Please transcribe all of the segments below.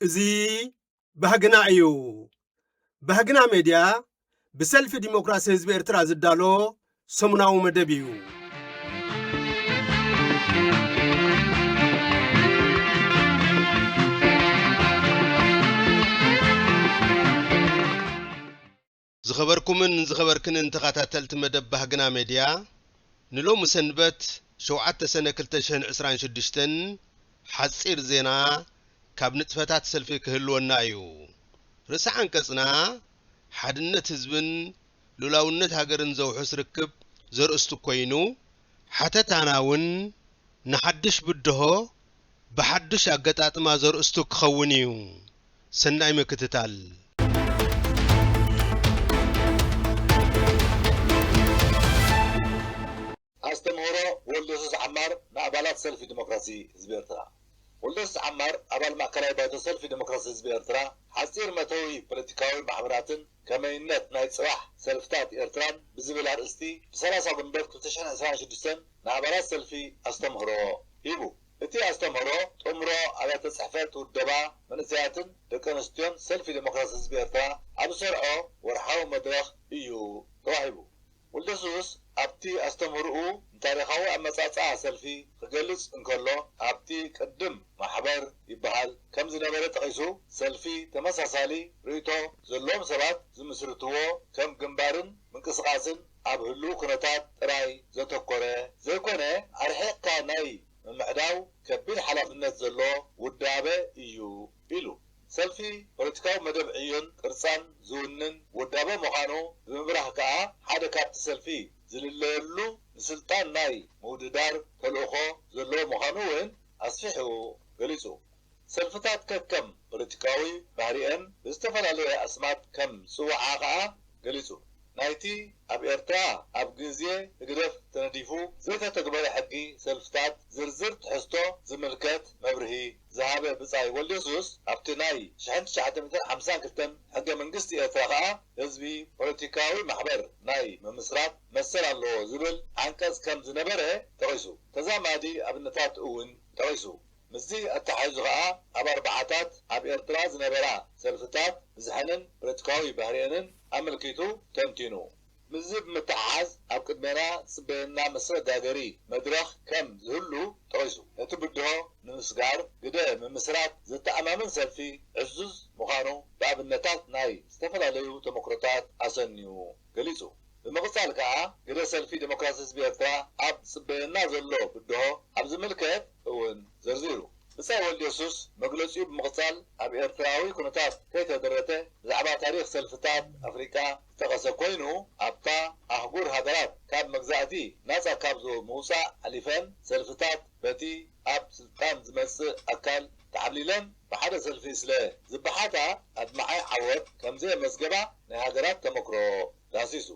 እዚ ባህግና እዩ። ባህግና ሜድያ ብሰልፊ ዲሞክራሲ ህዝቢ ኤርትራ ዝዳሎ ሰሙናዊ መደብ እዩ። ዝኸበርኩምን ዝኸበርክንን ተኸታተልቲ መደብ ባህግና ሜድያ ንሎሚ ሰንበት ሸውዓተ ሰነ ክልተ ሽሕን ዕስራን ሽዱሽተን ሓጺር ዜና ካብ ንጥፈታት ሰልፊ ክህልወና እዩ። ርእሰ ዓንቀጽና ሓድነት ህዝብን ሉእላውነት ሃገርን ዘውሕስ ርክብ ዘርእስቱ ኮይኑ፣ ሓተታና እውን ንሓድሽ ብድሆ ብሓዱሽ ኣገጣጥማ ዘርእስቱ ክኸውን እዩ። ሰናይ ምክትታል። ኣስተምህሮ ወልደሱስ ዓማር ንኣባላት ሰልፊ ደሞክራሲ ህዝቢ ኤርትራ። ወልደሱስ ዓማር ኣባል ማእከላይ ባይቶ ሰልፊ ደሞክራሲ ህዝቢ ኤርትራ፣ ሓጺር መእተዊ ፖለቲካዊ ማሕበራትን ከመይነት ናይ ጽባሕ ሰልፍታት ኤርትራን ብዝብል ኣርእስቲ ብ ሰላሳ ጉንበት ክልተ ሽሕን ዕስራን ሽዱሽተን ንኣባላት ሰልፊ ኣስተምህሮ ሂቡ። እቲ ኣስተምህሮ ጥምሮ ኣብያተ ጽሕፈት ውደባ መንእሰያትን ደቂ ኣንስትዮን ሰልፊ ደሞክራሲ ህዝቢ ኤርትራ ኣብ ዝሰርዖ ወርሓዊ መድረኽ እዩ ተዋሂቡ። ወልደሱስ ኣብቲ ኣስተምህሮኡ ንታሪኻዊ ኣመጻጽኣ ሰልፊ ክገልጽ እንከሎ ኣብቲ ቅድም ማሕበር ይበሃል ከም ዝነበረ ጠቒሱ ሰልፊ ተመሳሳሊ ርእይቶ ዘለዎም ሰባት ዝምስርትዎ ከም ግንባርን ምንቅስቓስን ኣብ ህሉው ኩነታት ጥራይ ዘተኮረ ዘይኮነ ኣርሒቕካ ናይ ምምዕዳው ከቢድ ሓላፍነት ዘለዎ ውዳበ እዩ ኢሉ። ሰልፊ ፖለቲካዊ መደብ ዕዮን ቅርጻን ዝውንን ውዳበ ምዃኑ ብምብራህ ከኣ ሓደ ካብቲ ሰልፊ ዝልለየሉ ንስልጣን ናይ ምውድዳር ተልእኾ ዘለዎ ምዃኑ እውን ኣስፊሑ ገሊጹ። ሰልፍታት ከከም ፖለቲካዊ ባህሪኤን ብዝተፈላለየ ኣስማት ከም ዝጽውዓ ከኣ ገሊጹ። ናይቲ ኣብ ኤርትራ ኣብ ግዜ ህግደፍ ተነዲፉ ዘይተተግበረ ሕጊ ሰልፍታት ዝርዝር ትሕዝቶ ዝምልከት መብርሂ፣ ዝሃበ ብጻይ ወልደየሱስ፣ ኣብቲ ናይ ሽሕን ትሽዓተ ሚእትን ሓምሳን ክልተን ሕገ መንግስቲ ኤርትራ ከኣ ህዝቢ ፖለቲካዊ ማሕበር ናይ ምምስራት መሰል ኣለዎ ዝብል ዓንቀጽ ከም ዝነበረ ጠቒሱ። ተዛማዲ ኣብነታት እውን ጠቒሱ። ምስዚ ኣተሓሒዙ ከኣ ኣብ ኣርብዓታት ኣብ ኤርትራ ዝነበራ ሰልፍታት ብዝሐንን ፖለቲካዊ ባህሪኤንን ኣመልኪቱ ተንቲኑ። ምስዚ ብምትሕሓዝ ኣብ ቅድሜና ዝጽበየና መሰጋገሪ መድረኽ ከም ዝህሉ ጠቒሱ፣ ነቲ ብድሆ ንምስጋር ግደ ምምስራት ዘተኣማምን ሰልፊ ዕዙዝ ምዃኑ ብኣብነታት ናይ ዝተፈላለዩ ተመክሮታት ኣሰንዩ ገሊጹ። ብምቕጻል ከኣ ግደ ሰልፊ ደሞክራሲ ህዝቢ ኤርትራ ኣብ ዝጽበየና ዘሎ ብድሆ ኣብ ዝምልከት እውን ዘርዚሩ። ብጻይ ወልድየሱስ መግለጺኡ ብምቕጻል ኣብ ኤርትራዊ ኩነታት ከይተደረተ ብዛዕባ ታሪኽ ሰልፍታት ኣፍሪቃ ዝጠቐሰ ኮይኑ ኣብታ ኣህጉር ሃገራት ካብ መግዛእቲ ናጻ ካብ ምውጻእ ሓሊፈን ሰልፍታት በቲ ኣብ ስልጣን ዝመጽእ ኣካል ተዓብሊለን ብሓደ ሰልፊ ስለ ዝበሓታ ኣድማዒ ዓወት ከምዘየመዝገባ ናይ ሃገራት ተመክሮ ዳህሲሱ።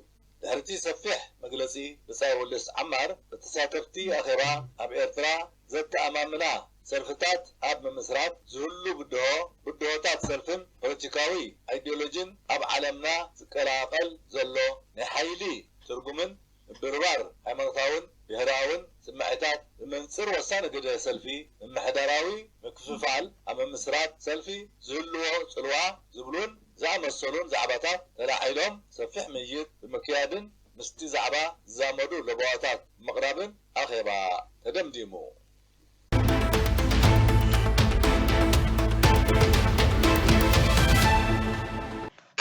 ድሕሪ'ቲ ሰፊሕ መግለጺ ብጻይ ወልደስ ዓማር፣ ንተሳተፍቲ ኣኼባ ኣብ ኤርትራ ዘተኣማምና ሰልፍታት ኣብ ምምስራት ዝህሉ ብድሆ፣ ብድሆታት ሰልፍን ፖለቲካዊ ኣይዲዮሎጂን ኣብ ዓለምና ዝቀላቐል ዘሎ ናይ ሓይሊ ትርጉምን ምብርባር ሃይማኖታውን ብሄራውን ስምዒታት ብመንጽር ወሳኒ ግደ ሰልፊ ምምሕዳራዊ ምክፍፋል ኣብ ምምስራት ሰልፊ ዝህልዎ ጽልዋ ዝብሉን ዝኣመሰሉን ዛዕባታት ተላዒሎም ሰፊሕ ምይይጥ ብምክያድን ምስቲ ዛዕባ ዝዛመዱ ለበዋታት ብምቕራብን ኣኼባ ተደምዲሙ።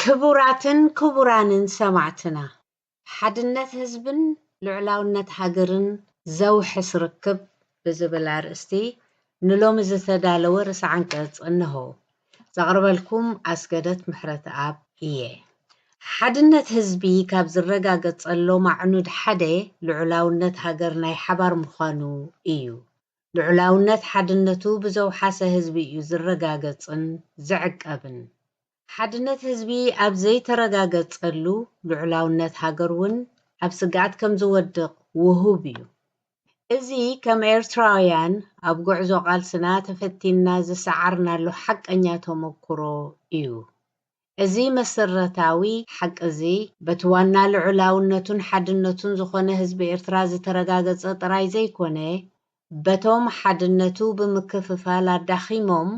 ክቡራትን ክቡራንን ሰማዕትና ሓድነት ህዝብን ልዑላውነት ሃገርን ዘውሕስ ርክብ ብዝብል ኣርእስቲ ንሎሚ ዝተዳለወ ርእሰ ዓንቀጽ እነሆ። ዘቕርበልኩም ኣስገደት ምሕረትኣብ እየ። ሓድነት ህዝቢ ካብ ዝረጋገጸሎም ኣዕኑድ ሓደ ልዑላውነት ሃገር ናይ ሓባር ምዃኑ እዩ። ልዑላውነት ሓድነቱ ብዘውሓሰ ህዝቢ እዩ ዝረጋገጽን ዝዕቀብን። ሓድነት ህዝቢ ኣብ ዘይተረጋገጸሉ ልዑላውነት ሃገር ውን ኣብ ስግኣት ከም ዝወድቕ ውሁብ እዩ። እዚ ከም ኤርትራውያን ኣብ ጉዕዞ ቃልስና ተፈቲንና ዝሰዓርናሉ ሓቀኛ ተመኩሮ እዩ። እዚ መሰረታዊ ሓቂ እዚ በቲ ዋና ልዑላውነቱን ሓድነቱን ዝኾነ ህዝቢ ኤርትራ ዝተረጋገጸ ጥራይ ዘይኮነ በቶም ሓድነቱ ብምክፍፋል ኣዳኺሞም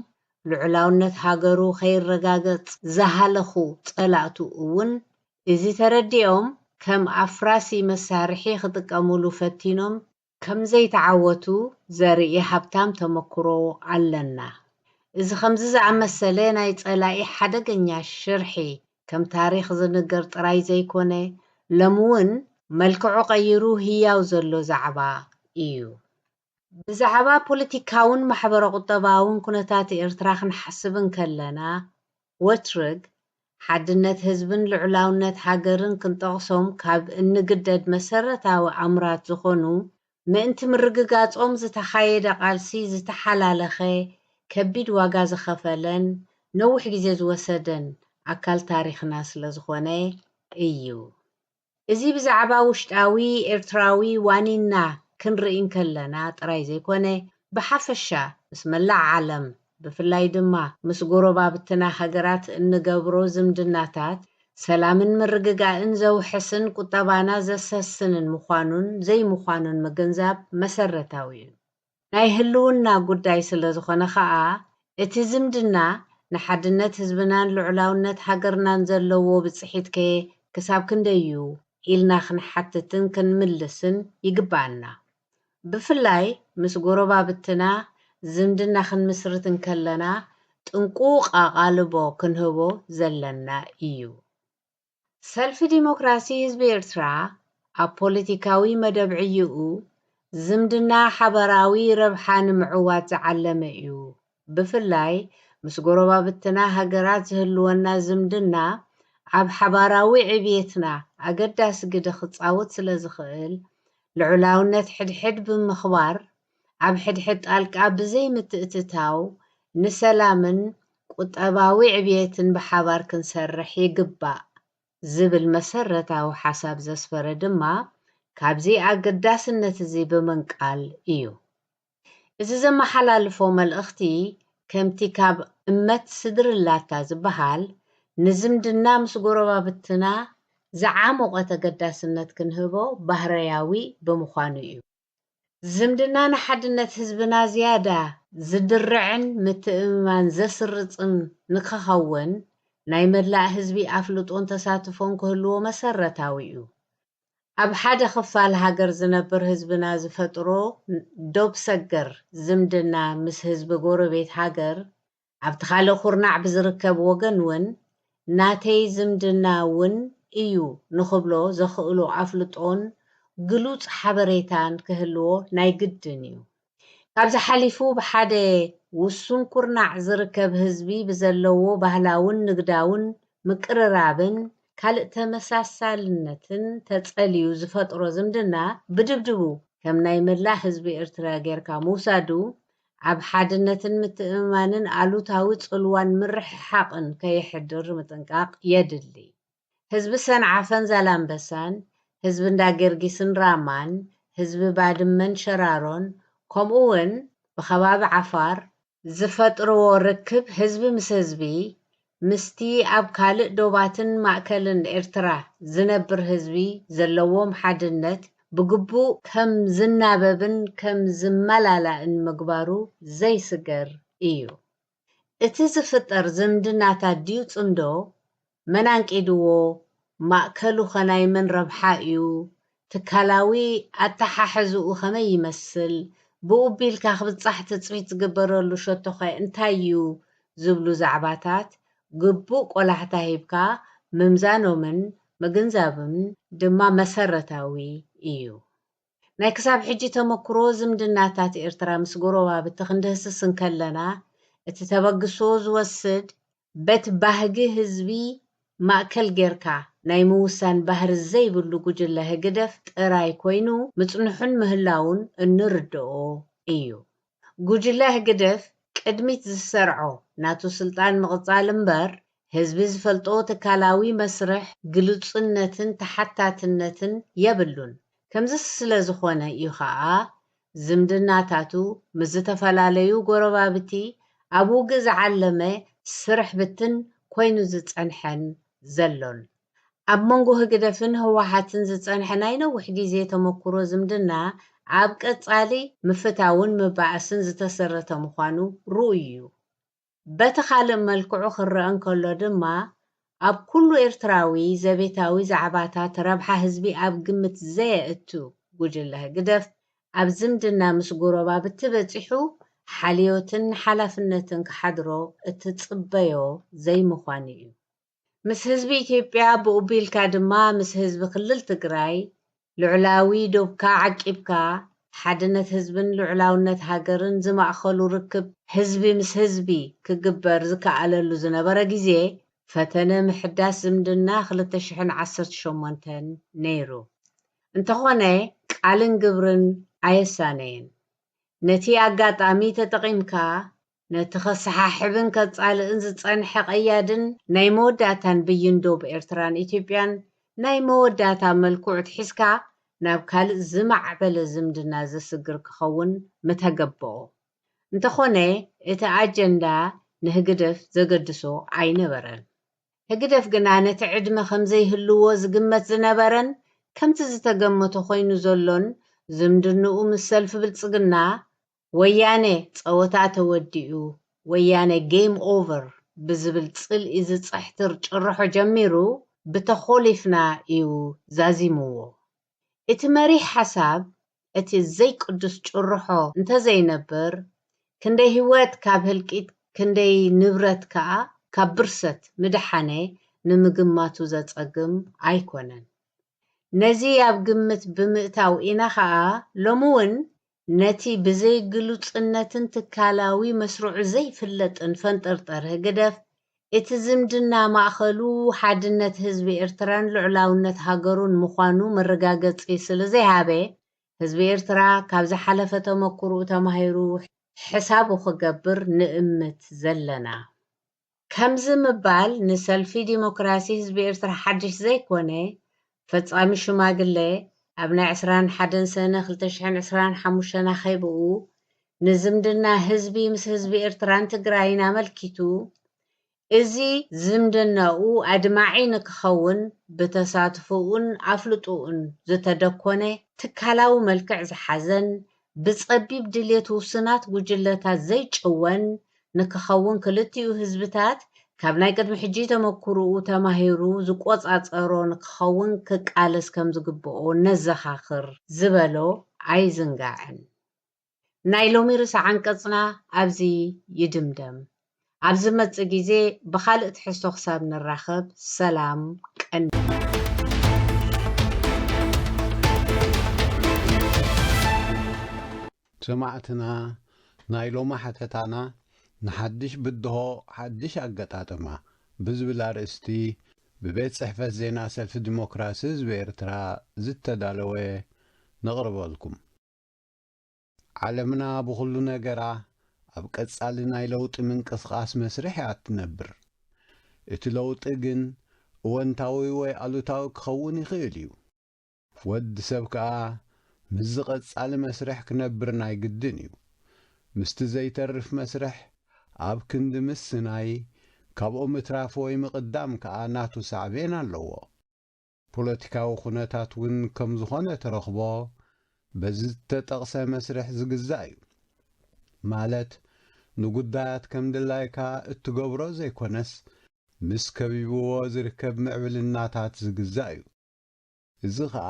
ልዑላውነት ሃገሩ ከይረጋገጽ ዝሃለኹ ጸላእቱ እውን እዚ ተረዲኦም ከም ኣፍራሲ መሳርሒ ክጥቀሙሉ ፈቲኖም ከምዘይተዓወቱ ዘርኢ ሃብታም ተመኩሮ ኣለና። እዚ ከምዚ ዝኣመሰለ ናይ ጸላኢ ሓደገኛ ሽርሒ ከም ታሪኽ ዝንገር ጥራይ ዘይኮነ ሎሚ ውን መልክዑ ቀይሩ ህያው ዘሎ ዛዕባ ኢዩ። ብዛዕባ ፖለቲካውን ማሕበረ-ቁጠባውን ኩነታት ኤርትራ ክንሓስብ እንከለና ወትርግ ሓድነት ህዝብን ልዑላውነት ሃገርን ክንጠቕሶም ካብ እንግደድ መሰረታዊ ኣምራት ዝኾኑ ምእንቲ ምርግጋጾም ዝተኻየደ ቃልሲ ዝተሓላለኸ፣ ከቢድ ዋጋ ዝኸፈለን ነዊሕ ግዜ ዝወሰደን ኣካል ታሪኽና ስለዝኾነ እዩ። እዚ ብዛዕባ ውሽጣዊ ኤርትራዊ ዋኒንና ክንርኢ እንከለና ጥራይ ዘይኮነ፣ ብሓፈሻ ምስ መላእ ዓለም፣ ብፍላይ ድማ ምስ ጎረባብትና ሃገራት እንገብሮ ዝምድናታት ሰላምን ምርግጋእን ዘውሕስን ቁጠባና ዘሰስንን ምዃኑን ዘይምዃኑን ምግንዛብ መሰረታዊ እዩ። ናይ ህልውና ጉዳይ ስለዝኾነ ከኣ እቲ ዝምድና ንሓድነት ህዝብናን ልዑላውነት ሃገርናን ዘለዎ ብጽሒትከ ክሳብ ክንደይ እዩ ኢልና ክንሓትትን ክንምልስን ይግበኣና። ብፍላይ ምስ ጎረባብትና ዝምድና ክንምስርት እንከለና ጥንቁቕ ኣቓልቦ ክንህቦ ዘለና ኢዩ። ሰልፊ ዲሞክራሲ ህዝቢ ኤርትራ ኣብ ፖለቲካዊ መደብ ዕይኡ፣ ዝምድና ሓበራዊ ረብሓ ንምዕዋት ዝዓለመ'ዩ ብፍላይ ምስ ጎረባብትና ሃገራት ዝህልወና ዝምድና ኣብ ሓባራዊ ዕብየትና ኣገዳሲ ግደ ክጻወት ስለ ዝኽእል፣ ልዑላውነት ሕድሕድ ብምኽባር፣ ኣብ ሕድሕድ ጣልቃ ብዘይምትእትታው ንሰላምን ቁጠባዊ ዕብየትን ብሓባር ክንሰርሕ ይግባእ ዝብል መሰረታዊ ሓሳብ ዘስፈረ ድማ ካብዚ ኣገዳስነት'ዚ ብምንቃል እዩ። እዚ ዘመሓላልፎ መልእኽቲ ከምቲ ካብ እመት ስድርላታ ዝበሃል ንዝምድና ምስ ጎረባብትና ዝዓሞቐ ተገዳስነት ክንህቦ ባህርያዊ ብምዃኑ እዩ። ዝምድና ንሓድነት ህዝብና ዝያዳ ዝድርዕን ምትእምማን ዘስርጽን ንከኸውን ናይ መላእ ህዝቢ ኣፍልጦን ተሳትፎን ክህልዎ መሰረታዊ እዩ። ኣብ ሓደ ክፋል ሃገር ዝነብር ህዝብና ዝፈጥሮ ዶብ ሰገር ዝምድና ምስ ህዝቢ ጎረቤት ሃገር ኣብቲ ካልእ ኩርናዕ ብዝርከብ ወገን ውን ናተይ ዝምድና ውን እዩ ንኽብሎ ዘኽእሎ ኣፍልጦን ግሉጽ ሓበሬታን ክህልዎ ናይ ግድን እዩ። ካብዚ ሓሊፉ ብሓደ ውሱን ኩርናዕ ዝርከብ ህዝቢ ብዘለዎ ባህላውን ንግዳውን ምቅርራብን ካልእ ተመሳሳልነትን ተጸልዩ ዝፈጥሮ ዝምድና ብድብድቡ ከም ናይ መላእ ህዝቢ ኤርትራ ጌርካ ምውሳዱ ኣብ ሓድነትን ምትእምማንን ኣሉታዊ ጽልዋን ምርሕሓቕን ከየሕድር ምጥንቃቕ የድሊ። ህዝቢ ሰንዓፈን ዛላምበሳን፣ ህዝቢ እንዳ ገርጊስን ራማን፣ ህዝቢ ባድመን ሸራሮን ከምኡ ውን ብከባቢ ዓፋር፣ ዝፈጥርዎ ርክብ ህዝቢ ምስ ህዝቢ ምስቲ ኣብ ካልእ ዶባትን ማእከልን ኤርትራ ዝነብር ህዝቢ ዘለዎም ሓድነት ብግቡእ ከም ዝናበብን ከም ዝመላላእን ምግባሩ ዘይስገር ኢዩ። እቲ ዝፍጠር ዝምድናታት ድዩ ጽምዶ? መን ኣንቂድዎ? ማእከሉኸ ናይ መን ረብሓ እዩ? ትካላዊ ኣተሓሕዝኡ ከመይ ይመስል? ብኡቢልካ ክብጻሕ ትጽቢት ዝግበረሉ ሸቶኸ እንታይ እዩ? ዝብሉ ዛዕባታት ግቡእ ቆላሕታ ሂብካ ምምዛኖምን ምግንዛብን ድማ መሰረታዊ እዩ። ናይ ክሳብ ሕጂ ተመኩሮ ዝምድናታት ኤርትራ ምስ ጎረባብቲ ክንድህስስ እንከለና፣ እቲ ተበግሶ ዝወስድ፣ በቲ ባህጊ ህዝቢ ማእከል ጌርካ ናይ ምውሳን ባህሪ ዘይብሉ ጉጅለ ህግደፍ ጥራይ ኮይኑ ምጽንሑን ምህላዉን እንርደኦ ኢዩ። ጉጅለ ህግድፍ ቅድሚት ዝሰርዖ ናቱ ስልጣን ምቕጻል እምበር ህዝቢ ዝፈልጦ ትካላዊ መስርሕ ግሉጽነትን ተሓታትነትን የብሉን። ከምዚ ስለዝኾነ እዩ ከኣ ዝምድናታቱ ምስ ዝተፈላለዩ ጎረባብቲ ኣብ ውግእ ዝዓለመ ስርሕ ብትን ኮይኑ ዝጸንሐን ዘሎን። ኣብ መንጎ ህግደፍን ህወሓትን ዝጸንሐ ናይ ነዊሕ ግዜ ተመኩሮ ዝምድና ኣብ ቀጻሊ ምፍታውን ምባኣስን ዝተሰረተ ምዃኑ ርኡይ እዩ። በቲ ካልእ መልክዑ ክረኣ እንከሎ ድማ ኣብ ኩሉ ኤርትራዊ ዘቤታዊ ዛዕባታት ረብሓ ህዝቢ ኣብ ግምት ዘየእቱ ጉጅለ ህግደፍ ኣብ ዝምድና ምስ ጎረባብቲ በጺሑ ሓልዮትን ሓላፍነትን ክሓድሮ እትጽበዮ ዘይምዃኑ እዩ። ምስ ህዝቢ ኢትዮጵያ ብኡ ቢልካ ድማ ምስ ህዝቢ ክልል ትግራይ ልዑላዊ ዶብካ ዓቂብካ ሓድነት ህዝብን ልዑላውነት ሃገርን ዝማእኸሉ ርክብ ህዝቢ ምስ ህዝቢ ክግበር ዝከኣለሉ ዝነበረ ግዜ ፈተነ ምሕዳስ ዝምድና ክልተ ሽሕን ዓሰርተ ሸሞንተን ነይሩ። እንተኾነ ቃልን ግብርን ኣየሳነየን። ነቲ ኣጋጣሚ ተጠቒምካ ነቲ ከሰሓሕብን ከጻልእን ዝጸንሐ ቀያድን ናይ መወዳእታን ብይን ዶብ ኤርትራን ኢትዮጵያን ናይ መወዳእታ መልክዑ ኣትሒዝካ ናብ ካልእ ዝማዕበለ ዝምድና ዘስግር ክኸውን ምተገበኦ። እንተኾነ እቲ ኣጀንዳ ንህግደፍ ዘገድሶ ኣይነበረን። ህግደፍ ግና ነቲ ዕድመ ከምዘይህልዎ ዝግመት ዝነበረን ከምቲ ዝተገመቶ ኮይኑ ዘሎን ዝምድንኡ ምስ ሰልፊ ብልጽግና ወያነ ጸወታ ተወዲኡ፣ ወያነ game over ብዝብል ጽልኢ ዝጽሕትር ጭርሖ ጀሚሩ ብተኾሊፍና እዩ ዛዚሙዎ። እቲ መሪሕ ሓሳብ እቲ ዘይቅዱስ ጭርሖ እንተዘይነብር ክንደይ ህይወት ካብ ህልቂት ክንደይ ንብረት ከኣ ካብ ብርሰት ምደሓነ ንምግማቱ ዘጸግም ኣይኮነን። ነዚ ኣብ ግምት ብምእታው ኢና ከኣ ሎሚ እውን ነቲ ብዘይ ግሉጽነትን ትካላዊ መስርዑ ዘይፍለጥን ፈንጠርጠር ህግደፍ፣ እቲ ዝምድና ማእከሉ ሓድነት ህዝቢ ኤርትራን ልዑላውነት ሃገሩን ምዃኑ መረጋገጺ ስለዘይሃበ፣ ህዝቢ ኤርትራ ካብ ዝሓለፈ ተመኩርኡ ተማሂሩ ሕሳቡ ክገብር ንእምት ዘለና። ከምዚ ምባል ንሰልፊ ዲሞክራሲ ህዝቢ ኤርትራ ሓድሽ ዘይኮነ፣ ፈጻሚ ሽማግለ ኣብ ናይ ዕስራን ሓደን ሰነ ክልተ ሽሕን ዕስራን ሓሙሽተን ኣኼብኡ፣ ንዝምድና ህዝቢ ምስ ህዝቢ ኤርትራን ትግራይን ኣመልኪቱ፣ እዚ ዝምድናኡ ኣድማዒ ንክኸውን ብተሳትፎኡን ኣፍልጦኡን ዝተደኮነ፣ ትካላዊ መልክዕ ዝሓዘን ብጸቢብ ድሌት ውሱናት ጉጅለታት ዘይጭወን ንክኸውን ክልቲኡ ህዝብታት ካብ ናይ ቅድሚ ሕጂ ተመኩርኡ ተማሂሩ ዝቆጻጸሮ ንክኸውን ክቃለስ ከምዝግብኦ ነዘኻኽር ዝበሎ ኣይዝንጋዕን። ናይ ሎሚ ርእሰ ዓንቀጽና ኣብዚ ይድምደም። ኣብ ዝመጽእ ግዜ ብኻልእ ትሕዝቶ ክሳብ ንራኸብ ሰላም ቀንየልና። ሰማዕትና ናይ ሎሚ ሓተታና ንሓድሽ ብድሆ ሓድሽ ኣገጣጥማ ብዝብል ኣርእስቲ ብቤት ጽሕፈት ዜና ሰልፊ ዲሞክራሲ ህዝቢ ኤርትራ ዝተዳለወ ነቕርበልኩም። ዓለምና ብኹሉ ነገራ ኣብ ቀጻሊ ናይ ለውጢ ምንቅስቓስ መስርሕ እያ እትነብር። እቲ ለውጢ ግን እወንታዊ ወይ ኣሉታዊ ክኸውን ይኽእል እዩ። ወድ ሰብ ከኣ ምስዚ ቀጻሊ መስርሕ ክነብር ናይ ግድን እዩ። ምስቲ ዘይተርፍ መስርሕ ኣብ ክንዲ ምስናይ፣ ካብኡ ምትራፍ ወይ ምቕዳም ከኣ ናቱ ሳዕቤን ኣለዎ። ፖለቲካዊ ኩነታት እውን ከም ዝኾነ ትረኽቦ በዚ ዝተጠቕሰ መስርሕ ዝግዛእ እዩ። ማለት ንጉዳያት ከም ድላይካ እትገብሮ ዘይኮነስ ምስ ከቢብዎ ዝርከብ ምዕብልናታት ዝግዛእ እዩ። እዚ ከኣ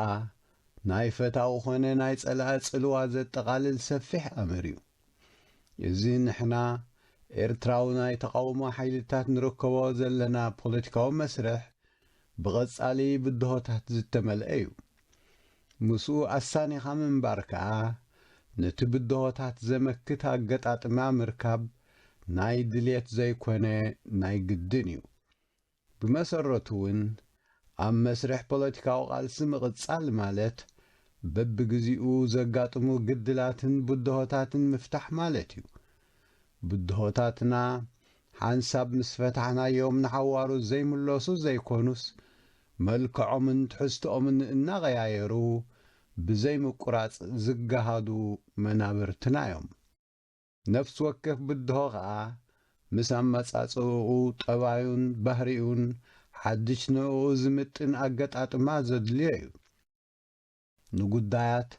ናይ ፈታዊ ኮነ ናይ ጸላኢ ጽልዋ ዘጠቓልል ሰፊሕ ኣምር እዩ። እዚ ንሕና ኤርትራዊ ናይ ተቓውሞ ሓይልታት ንርከቦ ዘለና ፖለቲካዊ መስርሕ ብቐጻሊ ብድሆታት ዝተመልአ እዩ። ምስኡ ኣሳኒኻ ምንባር ከኣ ነቲ ብድሆታት ዘመክት ኣገጣጥማ ምርካብ ናይ ድሌት ዘይኮነ ናይ ግድን እዩ። ብመሰረቱ እውን ኣብ መስርሕ ፖለቲካዊ ቃልሲ ምቕጻል ማለት በብግዜኡ ዘጋጥሙ ግድላትን ብድሆታትን ምፍታሕ ማለት እዩ። ብድሆታትና ሓንሳብ ምስ ፈታሕናዮም ንሓዋሩ ዘይምለሱ ዘይኮኑስ መልክዖምን ትሕዝትኦምን እናቐያየሩ ብዘይምቁራጽ ዝገሃዱ መናብርትና'ዮም። ነፍሲ ወከፍ ብድሆ ከኣ ምስ ኣመጻጽእኡ፣ ጠባዩን ባህሪኡን ሓድሽ ንእኡ ዝምጥን ኣገጣጥማ ዘድልዮ'ዩ። ንጉዳያት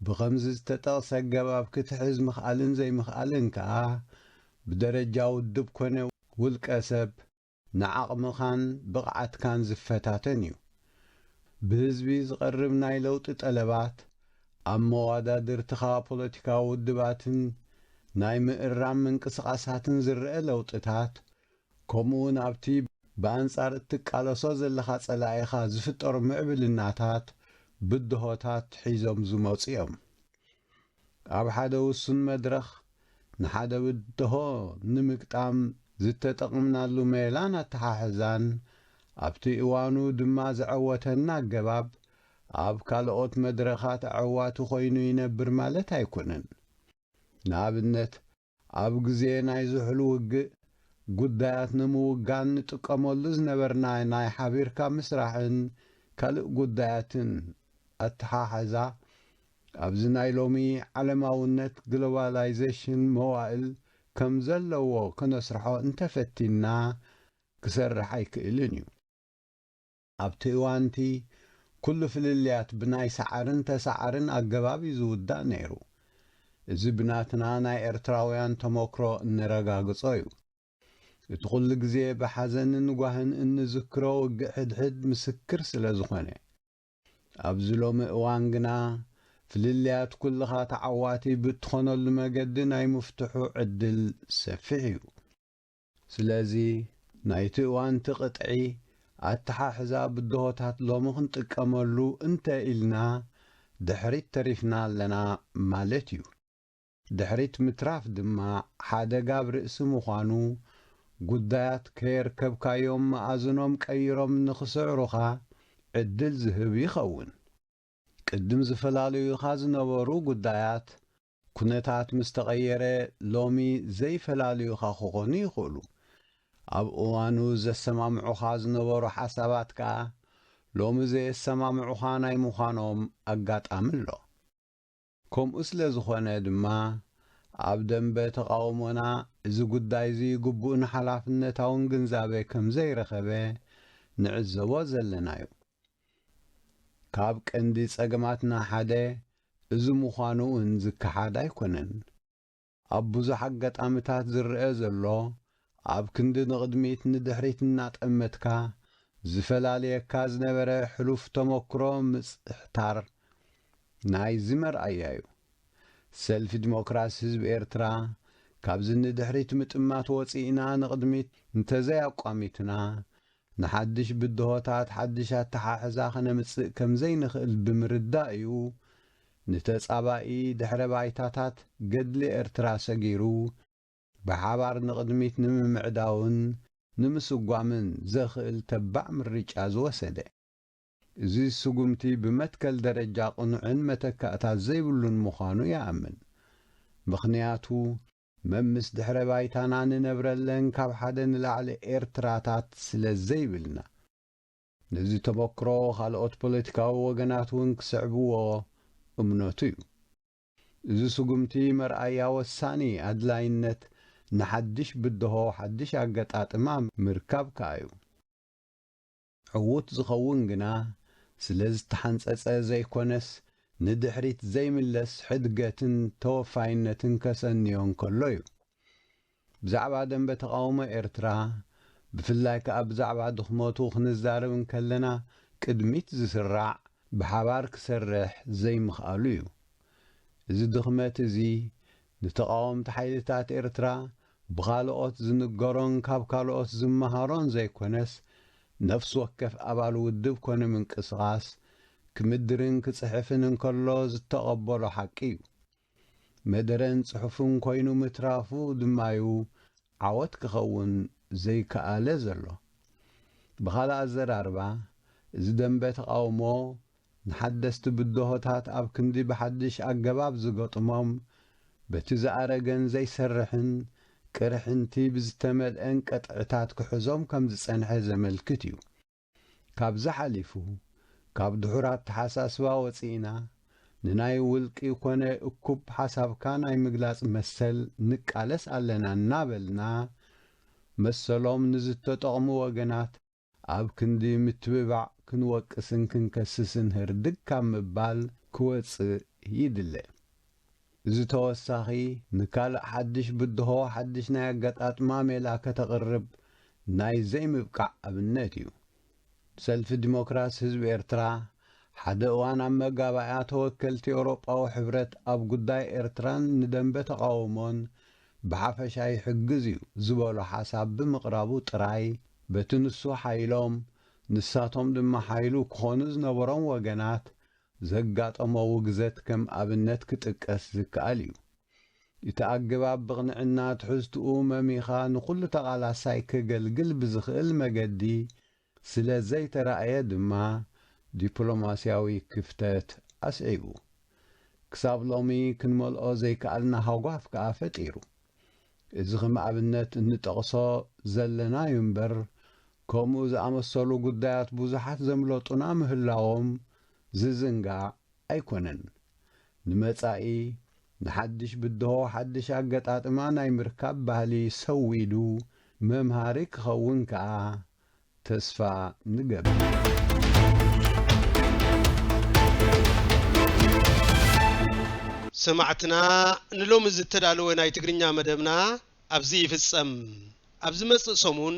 ብኸምዚ ዝተጠቕሰ ኣገባብ ክትሕዝ ምኽኣልን ዘይምኽኣልን ከኣ ብደረጃ ውድብ ኮነ ውልቀ ሰብ ንዓቕምኻን ብቕዓትካን ዝፈታተን እዩ። ብህዝቢ ዝቐርብ ናይ ለውጢ ጠለባት ኣብ መዋዳድርትኻ ፖለቲካዊ ውድባትን ናይ ምእራም ምንቅስቓሳትን ዝረኣ ለውጥታት ከምኡውን ኣብቲ ብኣንጻር እትቃለሶ ዘለኻ ጸላኢኻ ዝፍጠሩ ምዕብልናታት ብድሆታት ሒዞም ዝመጹ እዮም። ኣብ ሓደ ውሱን መድረኽ ንሓደ ብድሆ ንምግጣም ዝተጠቕምናሉ ሜላን ኣተሓሕዛን ኣብቲ እዋኑ ድማ ዘዐወተና ኣገባብ ኣብ ካልኦት መድረኻት ኣዐዋቲ ኮይኑ ይነብር ማለት ኣይኮነን። ንኣብነት፣ ኣብ ግዜ ናይ ዝሑል ውግእ ጉዳያት ንምውጋን ንጥቀመሉ ዝነበርና ናይ ሓቢርካ ምስራሕን ካልእ ጉዳያትን ኣተሓሕዛ፣ ኣብዚ ናይ ሎሚ ዓለማውነት፣ ግሎባላይዘሽን፣ መዋእል ከም ዘለዎ ከነስርሖ እንተፈቲንና ክሰርሕ ኣይክእልን እዩ። ኣብቲ እዋንቲ ኩሉ ፍልልያት ብናይ ሰዓርን ተሰዓርን ኣገባብ እዩ ዝውዳእ ነይሩ። እዚ ብናትና ናይ ኤርትራውያን ተሞክሮ እነረጋግጾ እዩ። እቲ ኩሉ ግዜ ብሓዘንን ጓህን እንዝክሮ ውግእ ሕድሕድ ምስክር ስለ ዝኾነ። ኣብዚ ሎሚ እዋን ግና ፍልልያት ኩልኻ ተዓዋቲ ብእትኾነሉ መገዲ ናይ ምፍትሑ ዕድል ሰፊሕ እዩ። ስለዚ ናይቲ እዋንቲ ቅጥዒ ኣተሓሕዛ ብድሆታት ሎሚ ክንጥቀመሉ እንተ ኢልና ድሕሪት ተሪፍና ኣለና ማለት እዩ። ድሕሪት ምትራፍ ድማ ሓደጋ ኣብ ርእሲ ምዃኑ ጉዳያት ከየርከብካዮም መኣዝኖም ቀይሮም ንክስዕሩኻ ዕድል ዝህብ ይኸውን። ቅድም ዝፈላለዩኻ ዝነበሩ ጉዳያት ኩነታት ምስ ተቐየረ ሎሚ ዘይፈላለዩኻ ክኾኑ ይኽእሉ። ኣብ እዋኑ ዘሰማምዑኻ ዝነበሩ ሓሳባት ከኣ ሎሚ ዘየሰማምዑኻ ናይ ምዃኖም ኣጋጣሚ ኣሎ። ከምኡ ስለ ዝኾነ ድማ ኣብ ደምበ ተቓውሞና እዚ ጉዳይ'ዚ ግቡእን ሓላፍነታውን ግንዛበ ከም ዘይረኸበ ንዕዘቦ ዘለና'ዩ። ካብ ቀንዲ ጸገማትና ሓደ እዚ ምዃኑ'ውን ዝከሓድ ኣይኮነን። ኣብ ብዙሕ ኣጋጣምታት ዝረኣ ዘሎ ኣብ ክንዲ ንቕድሚት ንድሕሪት እናጠመትካ ዝፈላልየካ ዝነበረ ሕሉፍ ተሞክሮ ምጽሕታር ናይዚ መርኣያ'ዩ። ሰልፊ ዲሞክራሲ ህዝቢ ኤርትራ ካብዚ ንድሕሪት ምጥማት ወጺእና ንቕድሚት እንተዘይ ኣቋሚትና ንሓድሽ ብድሆታት ሓድሽ ኣተሓሕዛ ከነምጽእ ከም ዘይንኽእል ብምርዳእ'ዩ፣ ንተጻባኢ ድሕረ ባይታታት ገድሊ ኤርትራ ሰጊሩ፣ ብሓባር ንቕድሚት ንምምዕዳውን ንምስጓምን ዘኽእል ተባዕ ምርጫ ዝወሰደ። እዚ ስጉምቲ ብመትከል ደረጃ ቅኑዕን መተካእታ ዘይብሉን ምዃኑ ይኣምን። ምኽንያቱ። መምስ ድሕረ ባይታና ንነብረለን ካብ ሓደ ንላዕሊ ኤርትራታት ስለ ዘይብልና። ነዚ ተሞክሮ ካልኦት ፖለቲካዊ ወገናት ውን ክስዕብዎ እምነቱ'ዩ። እዚ ስጉምቲ መርኣያ ወሳኒ ኣድላይነት ንሓድሽ ብድሆ ሓድሽ ኣገጣጥማ ምርካብ ከኣ'ዩ። ዕዉት ዝኸውን ግና ስለ ዝተሓንጸጸ ዘይኮነስ ንድሕሪት ዘይምለስ ሕድገትን ተወፋይነትን ከሰንዮ እንከሎ'ዩ። ብዛዕባ ደምበ ተቓውሞ ኤርትራ ብፍላይ ከኣ ብዛዕባ ድኽመቱ ክንዛረብ እንከለና ቅድሚት ዝስራዕ ብሓባር ክሰርሕ ዘይምኽኣሉ'ዩ። እዚ ድኽመት'ዚ ንተቓወምቲ ሓይልታት ኤርትራ ብኻልኦት ዝንገሮን ካብ ካልኦት ዝመሃሮን ዘይኮነስ ነፍሲ ወከፍ ኣባል ውድብ ኮነ ምንቅስቓስ ክምድርን ክጽሕፍን እንከሎ ዝተቐበሎ ሓቂ'ዩ። መደረን ጽሑፍን ኮይኑ ምትራፉ ድማ'ዩ ዓወት ክኸውን ዘይከኣለ ዘሎ። ብኻልእ ኣዘራርባ እዚ ደምበ ተቓውሞ ንሓደስቲ ብድሆታት ኣብ ክንዲ ብሓድሽ ኣገባብ ዝገጥሞም፣ በቲ ዝኣረገን ዘይሰርሕን ቅርሕንቲ ብዝተመልኤን ቅጥዕታት ክሕዞም ከም ዝጸንሐ ዘመልክት እዩ። ካብዚ ሓሊፉ፣ ካብ ድሑር ኣተሓሳስባ ወጺእና፣ ንናይ ውልቂ ኮነ እኩብ ሓሳብካ ናይ ምግላጽ መሰል ንቃለስ ኣለና እናበልና፣ መሰሎም ንዝተጠቕሙ ወገናት፣ ኣብ ክንዲ ምትብባዕ ክንወቅስን ክንከስስን ህርድግ ካብ ምባል ክወጽእ ይድለ። እዚ ተወሳኺ ንካልእ ሓድሽ ብድሆ ሓድሽ ናይ ኣገጣጥማ ሜላ ከተቕርብ ናይ ዘይምብቃዕ ኣብነት እዩ። ሰልፊ ዲሞክራሲ ህዝቢ ኤርትራ ሓደ እዋን ኣብ መጋባእያ ተወከልቲ ኤውሮጳዊ ሕብረት ኣብ ጉዳይ ኤርትራን ንደምበ ተቓውሞን ብሓፈሻ ይሕግዝ እዩ ዝበሎ ሓሳብ ብምቕራቡ ጥራይ በቲ ንሱ ሓይሎም ንሳቶም ድማ ሓይሉ ክኾኑ ዝነበሮም ወገናት ዘጋጠሞ ውግዘት ከም ኣብነት ክጥቀስ ዝከኣል እዩ። እቲ ኣገባብ ብቕንዕና ትሕዝትኡ መሚኻ ንኹሉ ተቓላሳይ ከገልግል ብዝኽእል መገዲ ስለ ዘይተራእየ ድማ ዲፕሎማስያዊ ክፍተት ኣስዒቡ። ክሳብ ሎሚ ክንመልኦ ዘይከኣልና ሃጓፍ ከኣ ፈጢሩ። እዚ ከም ኣብነት እንጠቕሶ ዘለና'ዩ እምበር ከምኡ ዝኣመሰሉ ጉዳያት ብዙሓት ዘምለጡና ምህላዎም ዝዝንጋዕ ኣይኮነን ንመጻኢ ንሓድሽ ብድሆ ሓድሽ ኣገጣጥማ ናይ ምርካብ ባህሊ ሰዊዱ መምሃሪ ክኸውን ከኣ ተስፋ ንገብር። ሰማዕትና ንሎሚ ዝተዳለወ ናይ ትግርኛ መደብና ኣብዚ ይፍጸም። ኣብ ዝመጽእ ሰሙን